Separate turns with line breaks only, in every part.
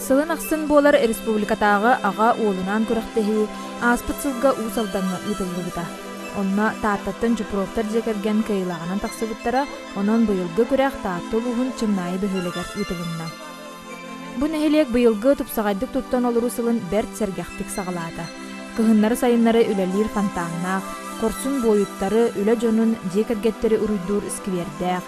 Сылын ахсын буолар республикатааҕы аҕа уолунаан күрэхтэһии ааспыт сылга Уус Алдаҥҥа ыытыллыбыта. Онно Тааттаттан Чупровтар дьиэ кэргэн кыайыылааҕынан тахсыбыттара, онон быйылгы күрэх Таатта улууһун Чымнаайы бөһүөлэгэр ыытылынна. Бу нэһилиэк быйылгы тупсаҕайдык туттан олоруу сылын бэрт сэргэхтик саҕалаата. Кыһыннары-сайыннары үлэлиир фонтаннаах, хорсун буойуттары, үлэ дьонун, дьиэ кэргэттэри уруйдуур сквердээх,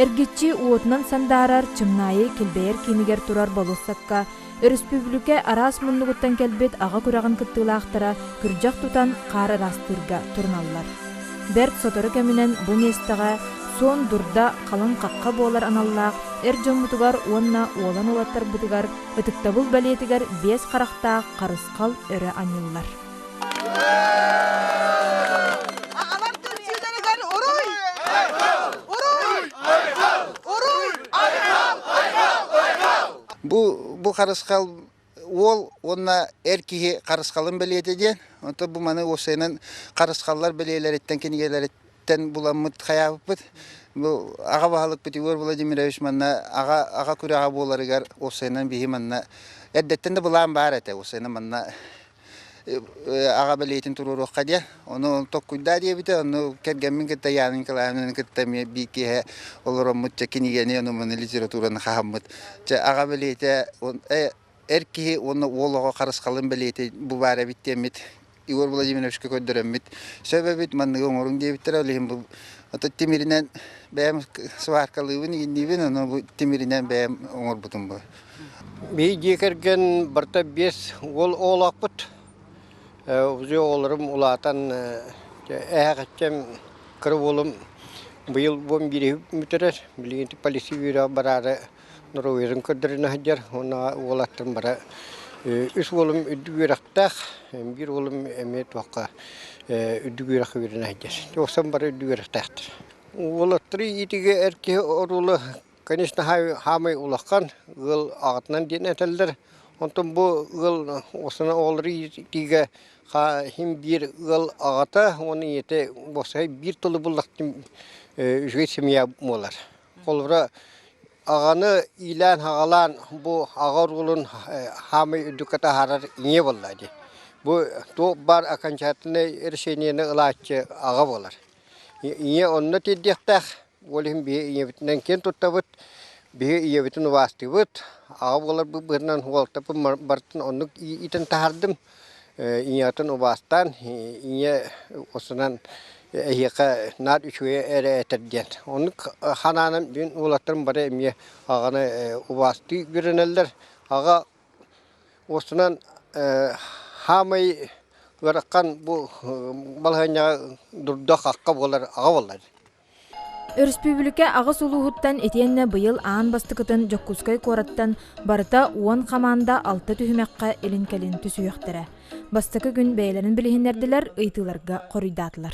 эргиччи уотунан сандаарар, чымнаайы килбэйэр киинигэр турар болуоссакка өрөспүүбүлүкэ араас муннугуттан кэлбит аҕа күрэҕин кыттыылаахтара күрдьэх тутан хаар ыраастыырга туруналлар. Бэрт сотору кэминэн бу миэстэҕэ Суон Дурда халыҥ хахха буолар аналлаах эр дьоммутугар уонна уолан уолаттарбытыгар ытыктабыл бэлиэтигэр биэс харахтаах харысхал өрө анньыллар. Аҕалар түмсүүлэригэр уруй! Уруй!
Уруй! Бу бу харысхал Уол уонна эр киһи харысхалын бэлиэтэ диэн, онтон бу маны уопсайынан харысхаллар бэлиэлэриттэн, кинигэлэриттэн буламмыт хайаабыппыт. Бу аҕа баһылыкпыт Егор Владимирович манна аҕа аҕа күрэҕэ буоларыгар уопсайынан биһи манна эрдэттэн да былаан баар этэ, уопсайынан манна аҕа бэлиэтин туруоруохха диэн ону tokkуйдаа диэбитэ ону кэргэммин кытта Янын Николаевнаны кытта эмиэ биир киэһэ олороммут чэ кинигэни ону маны литератураны хаһаммыт чэ аҕа бэлиэтэ эр киһи уонна уол оҕо харысхалын бэлиэтэ бу баар эбит диэммит Егор Владимировичка көрдөрөммүт сөбөбүт манныгы оҥоруҥ диэбиттэрэ ол иһин бу ото тимиринэн бэйэм сваркалыыбын игинниибин ону бу тимиринэн бэйэм оҥорбутум бу Бии дьиэ
кэргэн барыта биэс уол оҕолоохпут. Уже оҕолорум улаатан эһэҕэччэм кыра уолум быйыл уон биир бүтэрэр. Билигин полиция бюроҕа бараары норуойдарын көрдөрөн сылдьар. Уонна уол аттым бара үс уолум үрдүк үөрэхтээх. Биир уолум эмиэ туохха үрдүк үөрэххэ үөрэнэ сылдьар. Тоҕусан бары үрдүк үөрэхтээхтэр. Уолаттары иитиигэ эр киһи оруола Конечно, хаамай улахан ыал аҕатынан диэн этэллэр. Онтон бу ыал осона оҕолору иитиигэ хахим биир ыал аҕата уон ийэтэ босхой биир тылы буллахтым үчүгэй семья буолар. Холобура аҕаны иилээн-хаҕалаан бу аҕа оруолун хаамай үрдүккэ таһаарар ийэ буолла дии. Бу туох баар окончательнай решениены ылааччы аҕа буолар. Ийэ онно тиэрдиэхтээх. Ол иһин биһи ийэбитинэн киэн туттабыт, биһи ийэбитин убаастыыбыт. Аҕа буоларбыт быһытынан уолтаппын барытын оннук иитэн таһаардым. Ийэҕитин убаастаан, ийэ устунан эһиэхэ наар үчүгэйи эрэ этэр диэн. Оннук санаанан мин уолаттарым бары эмиэ аҕаны убаастыы үөрэнэллэр. Аҕа устунан хаамай ыарахан бу балаһыанньаҕа дурдах акка буолар аҕа буолар.
Өрөспүүбүлүкэ аҕыс улууһуттан итиэннэ быйыл аан бастакытын Дьокуускай куораттан барыта уон хамаанда алта түһүмэххэ илин кэлин түсүһүөхтэрэ. Бастакы күн бэйэлэрин билиһиннэрдилэр, ыйытыыларга хоруйдаатылар.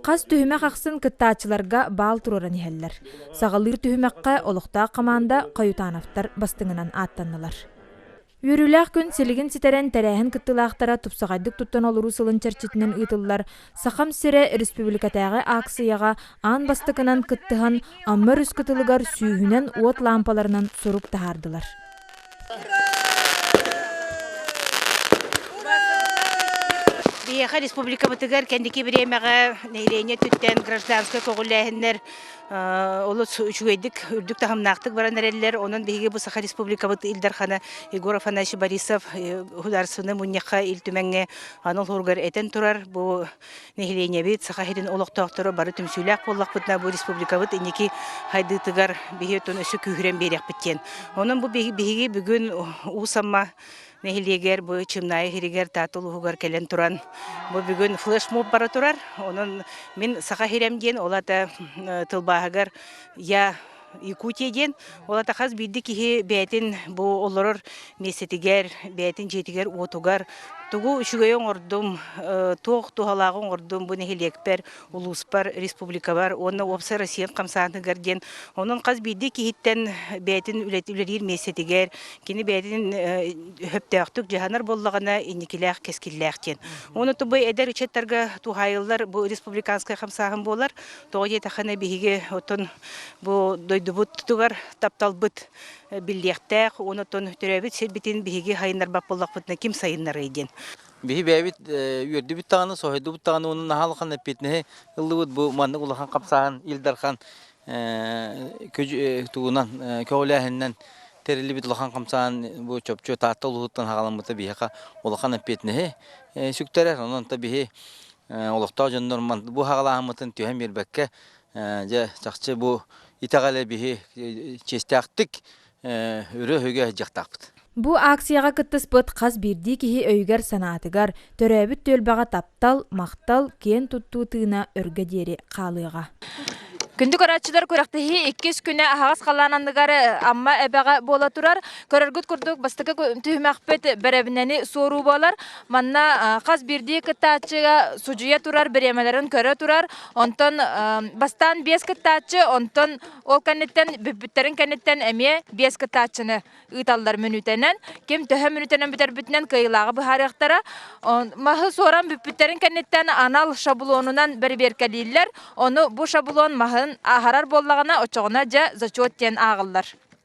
Хас түһүмэх ахсын кыттааччыларга баал туруоран иһэллэр. Саҕалыыр түһүмэххэ олохтоох хамаанда Хойутановтар бастыҥынан ааттаннылар. Үөрүүлээх күн силигин ситэрэн тэрээһин кыттыылаахтара тупсаҕайдык туттан олоруу сылын чэрчитинэн ыытыллар Сахам сирэ республикатааҕы ааксыйаҕа аан бастакынан кыттыһан Амма өрүс кытылыгар сүүһүнэн уот лаампаларынан сурук таһаардылар.
Биһиэхэ республикабытыгар кэнники бириэмэҕэ нэһилиэнньэ өттүттэн гражданскай көҕүлээһиннэр олус үчүгэйдик, үрдүк таһымнаахтык баран эрэллэр. Онон биһиги бу Саха Республикабыт Ил Дархана Егор Афанасьевич Борисов Ударственнай мунньахха Ил Түмэҥҥэ аны олуһуругар этэн турар, бу Нэһилиэнньэбит Саха сирин олохтоохторо бары түмсүүлээх буоллахпытына, бу республикабыт инники хайдыытыгар биһи отон өссө күүһүрэн биэриэхпит диэн. Онон бу биһиги бүгүн Уус Амма нэһилиэгэр бу Чымнаайы сиригэр Таатта улууһугар кэлэн туран бу бүгүн флешмоб бара турар. Онон мин Саха сирим диэн ол аата тылбааһыгар я Якутия диэн ол ата хас биирдии киһи бэйэтин бу олорор миэстэтигэр, бэйэтин дьиэтигэр-уотугар тугу үчүгэйи оҥордум, э, туох туһалааҕы оҥордум бу нэһилиэкпэр, улууспар, республикабар уонна уопсай Россия хамсааныгар диэн онон хас биирдии киһиттэн бэйэтин үлэлиир миэстэтигэр кини бэйэтин э, өһөптөөхтүк дьаһанар буоллаҕына инникилээх кэскиллээх диэн. Уонна бу эдэр ыччаттарга туһаайыллар бу республиканскай хамсааһын буолар Тоҕо диэтэххинэ биһиги оттон бу дойдубутугар тапталбыт биллиэхтээх уонна оттон төрөөбүт сирбитин биһиги сайыннарбат буоллахпытына ким сайыннарыай диэн. Биһи бэйэбит
үөрдүбүт даҕаны, соһуйдубут даҕаны уонун аһалҕан эппиэтинэһи ыллыбыт бу маннык улахан хамсааһын Ил Дархан тугунан көҕүлээһининэн тэриллибит улахан хамсаан бу чопчу Таатта улууһуттан хаҕаламмыта биһиэхэ улахан эппиэтинэһи сүктэрэр. Онон та биһи олохтоох дьоннор бу саҕалааһыммытын түһэн биэрбэккэ дьэ чахчы бу итэҕэлэ биһи чиэстээхтик өрө-өһүгэ дьахтахпыт. Бу акцияҕа
кыттыспыт хас биирдии киһи өйүгэр-санаатыгар, төрөөбүт түөлбэҕэ таптал, махтал, киэн туттуу тыына өргө диэри хаалыаҕа. Күндү көрөөччүлэр күрэхтэһии иккис күнэ аһаҕас халаан анныгар Амма эбэҕэ буола турар. Көрөргүт курдук бастакы түһүмэхпит бэрэбинэни суоруу буолар. Манна хас биирдии кыттааччыга судьуйа турар бириэмэлэрин көрө турар. Онтон бастаан биэс кыттааччы, онтон ол кэнниттэн бүппүттэрин кэнниттэн эмиэ биэс кыттааччыны ыыталлар мүнүүтэнэн. Ким төһө мүнүүтэнэн бүтэрбитинэн кыайыылааҕы быһаарыахтара. Маһы суоран бүппүттэрин кэнниттэн анал шаблонунан бэрэбиэркэлииллэр. Ону бу шаблон маһын ааһарар буоллаҕына, оччоҕуна дьэ зачет диэн ааҕыллар.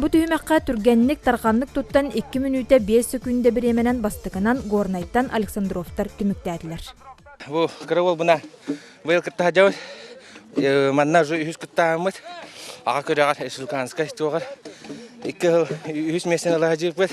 Бу түһүмэххэ түргэнник тарҕаннык туттан икки мүнүүтэ биэс сөкүүндэ бириэмэнэн бастакынан Горнайтан Александровтар түмүктээтилэр. Бу
кыра буна быйыл кыттаха жабыт манна уже үһүс кыттааммыт аға күрэҕэр Сулканскай туоҕар икки хыл үһүс мессен ала жыыппыт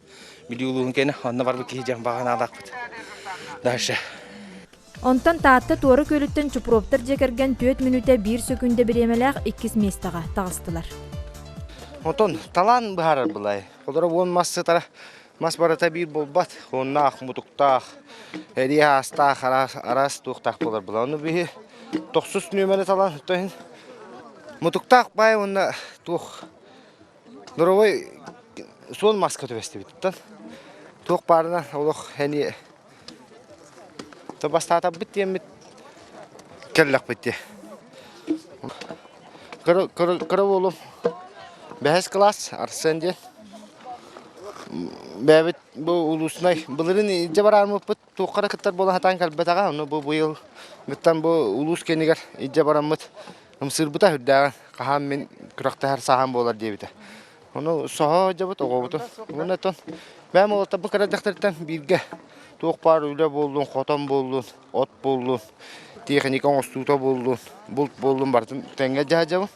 Бүлүү улууһун кэнэ онно барбыт киһи дьон баҕанаалаахпыт. Дальше.
Онтон Таатта Туора Күөлүттэн Чупровтар дьиэ кэргэн түөрт мүнүүтэ биир сөкүүндэ бириэмэлээх иккис миэстэҕэ таҕыстылар.
Онтон талаан быһаарар былай. Олоро уон мас сытара мас барыта биир буолбат. Оннаах мутуктаах, эриэ аастаах араас, араас туохтаах буолар була. Ону биһи тохсус нүөмэри талан, то иһин мутуктаах баай уонна туох Доровой суон маска түбэстибиттан туох баарынан олох эни то бастаатарбыт диэммит кэллэхпит дии кыра уолум бэһис кылаас Арсен диэн бэбит бу улуустунай былырын илдьэ бараармыппыт туохха да кыттар буола сатаан кэлбэтэҕэ ону бу быйыл быттан бу улуус киинигэр илдьэ бараммыт ымсыырбыта үрдээҕин хаһаан мин күрэхтэһэр сааһым буолар диэбитэ ону соһо дьабыт оҕобутун уонна тон бэйэм олоттарбыт кыра дьахтартан бииргэ туох баар үлэ буоллун хотон буоллун от буоллун тиэхиньикэ оҥостуута буоллун булт буоллун барытын тэҥҥэ дьаһадьабын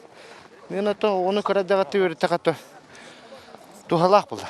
мен оттон оҕону кыра дьаҕатта үөрэттэхэ то туһалаах буолла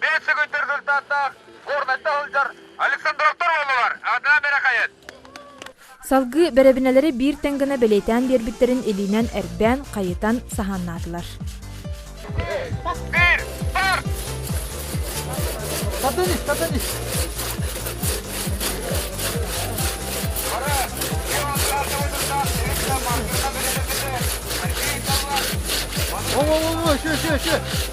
Биир сүгүйтэр кыртааттаах горнайда сылдьар Александровтар уоллалар аатынан бэрэхайыт.
Салгыы бэрэбинэлэри биир тэҥ гына бэлиэтээн биэрбиттэрин илиинэн эрбээн, хайытан, саһааннаатылар. Биир,
старт! Потонись, потонись! О-о-о, еще, еще, еще!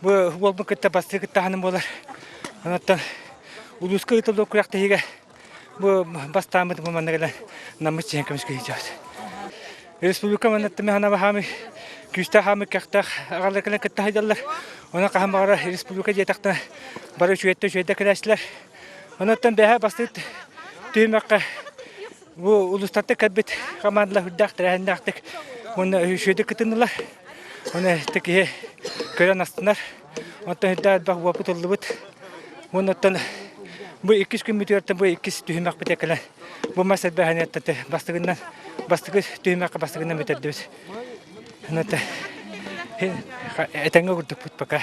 Бу уолбун кытта бастыы кыттаһаным буолар. Оттон улууска ыытыллар күрэхтэһиигэ бу бастааммыт бу манна кэлэн наммыт чиһэн көмүскэ сылдьабыт. Республика манна тымыһана баһаамы күүстээх хаамы кэхтээх аҕалар кэлэн кытта хайдаллар. Онон хаһан баҕара республика диэтэхтэн бары үчүгэттэ үчүгэйдэ кэлээчилэр. Онуттан бэһээ бастыыт түһүмэххэ Бу улуустарда көрбүт команда үрдэх тэрээһиннээхтик уонна үһүсүөдү кытынылар. Оны текиһи көрөн астынар. Онтон үрдэ элбэх уопутыллыбыт. Оннуттан бу иккис күн бүтүөртен бу иккис түһүмэх битекелен бу мас элбэхэнеттен бастыгынан бастыгы түһүмэхке бастыгынан бүтөрдүбүт. Онтон этенге курдукпут пока.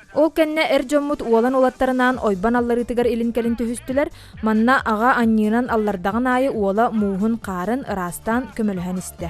Ол кэннэ эр дьоммут уолан уолаттарынаан ойбон алларыытыгар илин-кэлин түһүстүлэр, манна аҕа анньыынан аллардаҕын аайы уола мууһун хаарын ыраастаан көмөлөһөн истэ.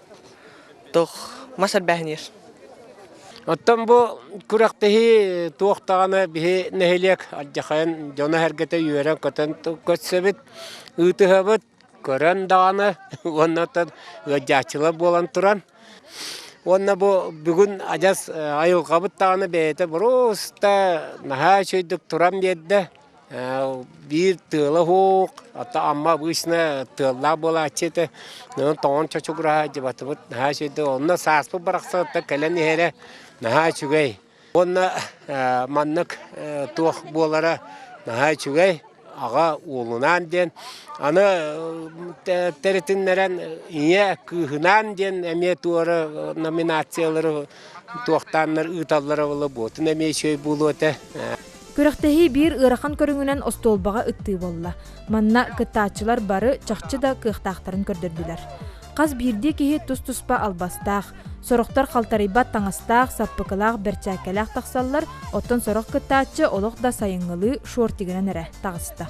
Тух мас элбээһиниир.
Оттон бу күрэхтэһии туохтаҕына биһи нэһилиэк алдьахайын дьоно-сэргэтэ үөрэн-көтөн көрсөбүт, ыытыһабыт, көрөн даҕаны уонна оттон ыалдьааччылар буолан туран. Уонна бу бүгүн адьас айылҕабыт даҕаны бэйэтэ боруоста наһаа үчүгэйдик туран биэрдэ. биир тыала уһуук, ата Амма обычно тыаллаах буолааччы этэ, онон тоҥон чочугураһа дьыбатыбыт наһаа үчүгэй. Онно сааспыт барахсан ата кэлэн иһэрэ наһаа үчүгэй. Уонна маннык туох буолара наһаа үчүгэй. Аҕа уолунаан диэн аны тэритиннэрэн ийэ кыыһынаан диэн эмиэ туора номинациялары туохтааннар ыыталлара буолла буотун эмиэ үчүгэй буолуо этэ. Күрэхтэһии
биир ыарахан көрүҥүнэн остуолбаҕа ыттыы буолла. Манна кыттааччылар бары чахчы да кыахтаахтарын көрдөрдүлэр. Хас биирдии киһи тус-туспа албастаах, сорохтор халтарыйбат таҥастаах, саппыкылаах бэрчээккэлээх тахсаллар, оттон сорох кыттааччы олох да сайыҥҥылыы шортигынан эрэ таҕыста.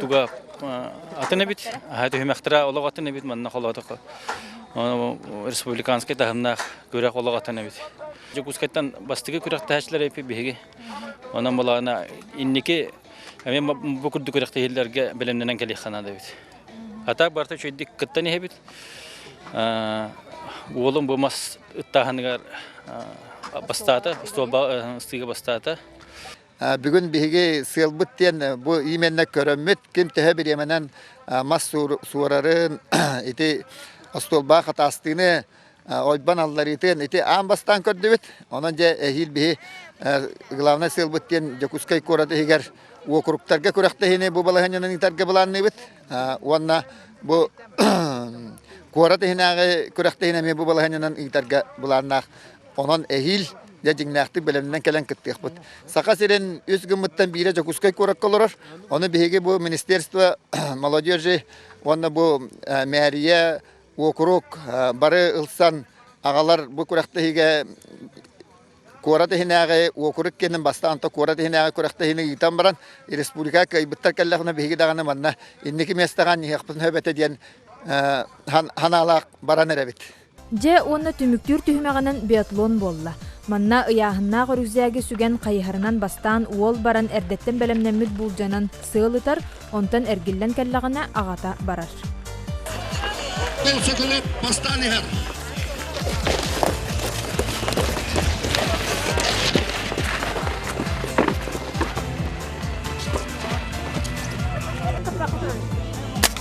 Туга атын эбит, аһа түһүмэхтера олох атын эбит, манна холоотоко. Республиканский таһымнаах күрэх олох атын эбит. Дьокуускайтан бастыгы күрэхтэһээчилэр эпи биһиги. Онон балаана инники эми бу курдук күрэхтэһиилэрге бэлэмнэнэн кэлиэххана да эбит. Атак барта үчэйдик кыттан иһэбит. Уолум бу мас ыттааһыныгар бастаата, столба ыстыыга бастаата. Бүгүн
биһиги сыалбыт диэн бу именно көрөммүт, ким төһө бириэмэнэн мас суорарын, ити остуолбаҕа хатаастыыны, ойбон алларыытын ити аан бастаан көрдүбүт. Онон дьэ эһиил биһи главнай сыалбыт диэн Дьокуускай куорат иһигэр уокуруктарга күрэхтэһиини бу балаһыанньанан ыытарга былаанныыбыт уонна бу куорат иһинээҕи күрэхтэһиини эмиэ бу балаһыанньанан ыытарга былааннаах Онон эһиил дьэ дьиҥнээхтик бэлэмнэнэн кэлэн кыттыахпыт. Саха сирин үс гыммыттан биирэ Дьокуускай куоракка олорор. Ону биһиги бу министерство молодежи уонна бу мэрия, уокурук бары ылсан аҕалар бу күрэхтэһиигэ куорат иһинээҕи уокурук киэнин бастаан то куорат иһинээҕи күрэхтэһиини ыытан баран республикаҕа кыайбыттар кэллэҕинэ биһиги даҕаны манна инники миэстэҕэ анньыһыахпытын сөбөтө диэн санаалаах баран эрэбит. Дьэ уонна
түмүктүүр түһүмэҕинэн биатлон буолла. Манна ыйааһыннаах үрүзээги сүгэн хайыһарынан бастаан уол баран эрдэттэн бэлэмнэммит буулдьанан сыал ытар, онтон эргиллэн кэллэҕинэ аҕата барар.
Сөкүлэп бастаан иһэр.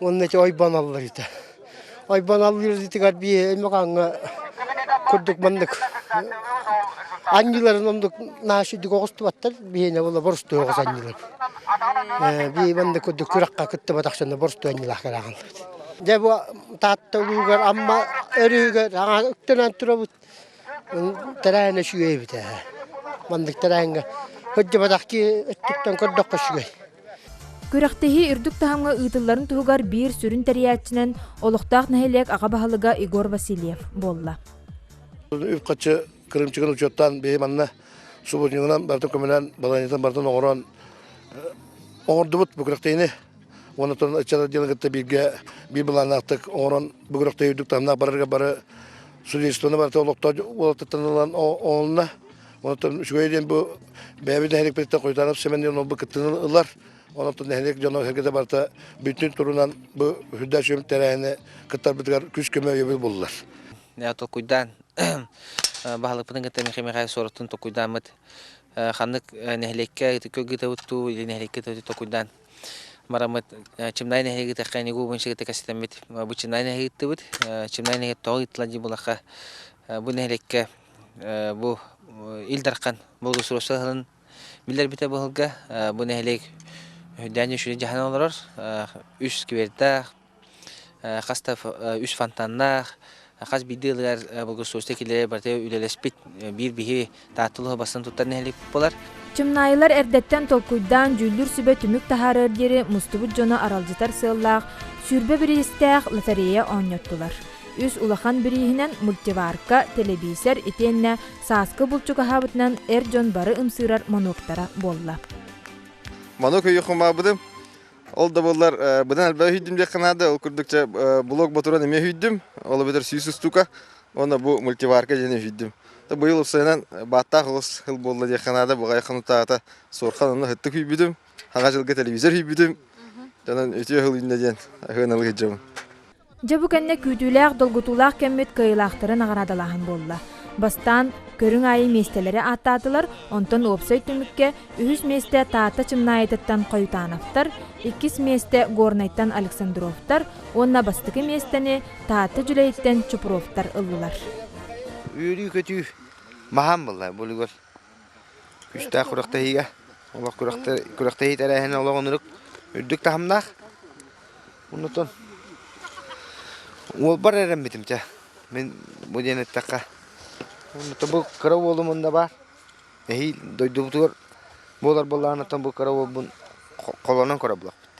Уонна ити ойбон аллар ити. Ойбон аллыыр итигэр би эмэҕаҥа курдук маннык анньыларын оннук наашидик оҕустубаттар биһиэнэ була борустуоҕус анньылар. Би маннык курдук күраққа кыттыбатах сына борусту анньылаах кэрэҕаллыт. Дьэ бу Таатта улуугар Амма өрүһүгэр аҥа үктэнэн турабыт. Тэрээһинэ үчүгэй эбитэ. Маннык тэрээһиҥҥэ хыддьыбатах ки өттүттэн көрдөххө үчүгэй. Күрэхтэһии
үрдүк таһымҥа ыытылларын туһугар биир сүрүн тэрийээччинэн олохтоох нэһилиэк аҕа баһылыга Егор Васильев буолла.
Үп-харчы кырыымчыгын учуоттаан биһи манна субботнигынан барытын көмөлөөн, балаһыанньатын барытын оҥорон оҥордубут бу күрэхтэһиини уонна туран ыччат отделын кытта бииргэ биир былааннаахтык оҥорон бу күрэхтэһии үрдүк таһымнаах барарга бары судействоны барыта олохтоох уолаттартан ылан оонна Онтон үчүгэй диэн бу бэйэбит нэһиликпиттэн Куйтанов Семен диэн олорбут кыттыыны ылар. Онтон нэһилиэк дьоно сэргэтэ барыта бүтүн турунан бу үрдээк сүөм тэрээһини кыттарбытыгар күүс-көмө өйөбүл буллар. Толкуйдаан
баһылыкпытын кытта Михаил Михаил Суораттын толкуйдааммыт ханнык нэһилиэккэ көлгүтөбүт туу или нэһилиэккэ толкуйдаан марамыт чимнай нэһилиги тэххэ нигу бунчыгыта кэситэммит бу чимнай нэһигиттыбыт чимнай нэһигит тоҕо ыттылан дьи булахха бу нэһилиэккэ бу Ил Дархан благоустройство аһылын биллэрбитэ быһылга бу нэһилиэк Дальний Ушей дьаһана олорор үс сквертээх, хас да үс фонтаннаах, хас биирдии ылыгар благоустройство киллэри барыта үлэлэспит биир биһи Таатта улуһа бастыҥ туттар нэһилиэк буолар. Чымнаайылар
эрдэттэн толкуйдаан дьүүллүүр сүбэ түмүк таһаарар диэри мустубут дьону аралдьытар сыаллаах сүүрбэ бириистээх лотерея оонньоттулар. Үс улахан бирииһинэн мультиварка, тэлэбиисэр итиэннэ сааскы булчук аһаабытынан эр дьон бары ымсыырар монуоктара буолла.
Манук өйү хумаабытым. Ол да буоллар быдан элбэх өһүйдүм диэххэ наада. Ол курдук чэ блок ботуран эмиэ өһүйдүм. Ол эбэтэр сүүс устука уонна бу мультиварка диэн өһүйдүм. Быйыл уопсайынан бааттаах оҕус хыл буолла диэххэ наада. Баҕайы хонутаата суорхан онно һыттык үйбүтүм. Хаҥа дьылга тэлэбиисэр үйбүтүм. Дьонун үтүө хыл үннэ диэн аһыан алы сылдьабын. Дьэ бу кэннэ
күүтүүлээх, долгутуулаах кэммит кыайыылаахтары наҕараадалааһын буолла. Бастаан көрүҥ аайы миэстэлэри ааттаатылар, онтон уопсай түмүккэ үһүс миэстэ Таатта Чымнаайытыттан Хойутановтар, иккис миэстэ Горнайтан Александровтар уонна бастакы миэстэни Таатта Дьүлэйиттэн Чупровтар ыллылар.
Үөрүү-көтүү маһаан буолла, булугур. Күүстээх күрэхтэһиигэ олох күрэхтэһии тэрээһинэ олох оннук үрдүк таһымнаах. Оннутун уолбар эрэммитим чэ. Мин бу диэн эттэххэ оннута бу кыра уолум онно баар. Эһиил дойдубутугар буолар буоллаҕына оттон бу кыра уолбун холонон көрө булаппыт.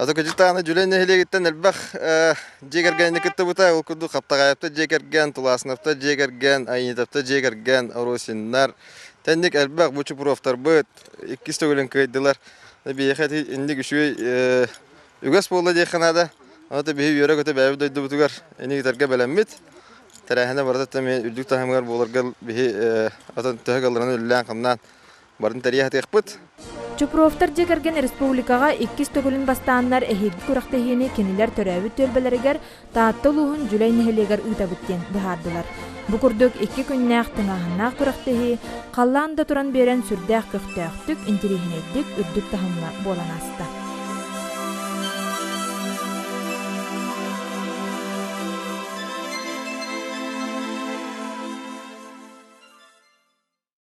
Атыкачытааны Дьүлэй нэһилиэгиттэн элбэх дьиэ кэргэни кыттыбыта. Ол курдук Хаптаҕайапта дьиэ кэргэн, Тулаасынапта дьиэ кэргэн, Айанитапта дьиэ кэргэн, Оросиннар. Тэнник элбэх бу Чупуровтарбыт иккис төгүлүн кыайдылар. Биһиэхэ ити инник үчүгэй үгэс буолла диэххэ наада. Аны да биһи үөрэ-көтө бэйэбит дойдубутугар ини ыытарга бэлэммит. Тэрээһинэ барыта эмиэ үрдүк таһымыгар буоларга биһи атын төһө кылларынан үлэлээн-хамнаан Барын тэрийэ хатыахпыт. Чупровтар дьиэ
кэргэн республикаҕа иккис төгүлүн бастааннар эһиилги күрэхтэһиини кинилэр төрөөбүт түөлбэлэригэр Таатта улууһун Дьүлэй нэһилиэгэр ыытабыт диэн быһаардылар. Бу курдук икки күннээх тыҥааһыннаах күрэхтэһии халлаан да туран биэрэн сүрдээх көхтөөхтүк, интириэһинэйдик, үрдүк таһымҥа буолан ааста.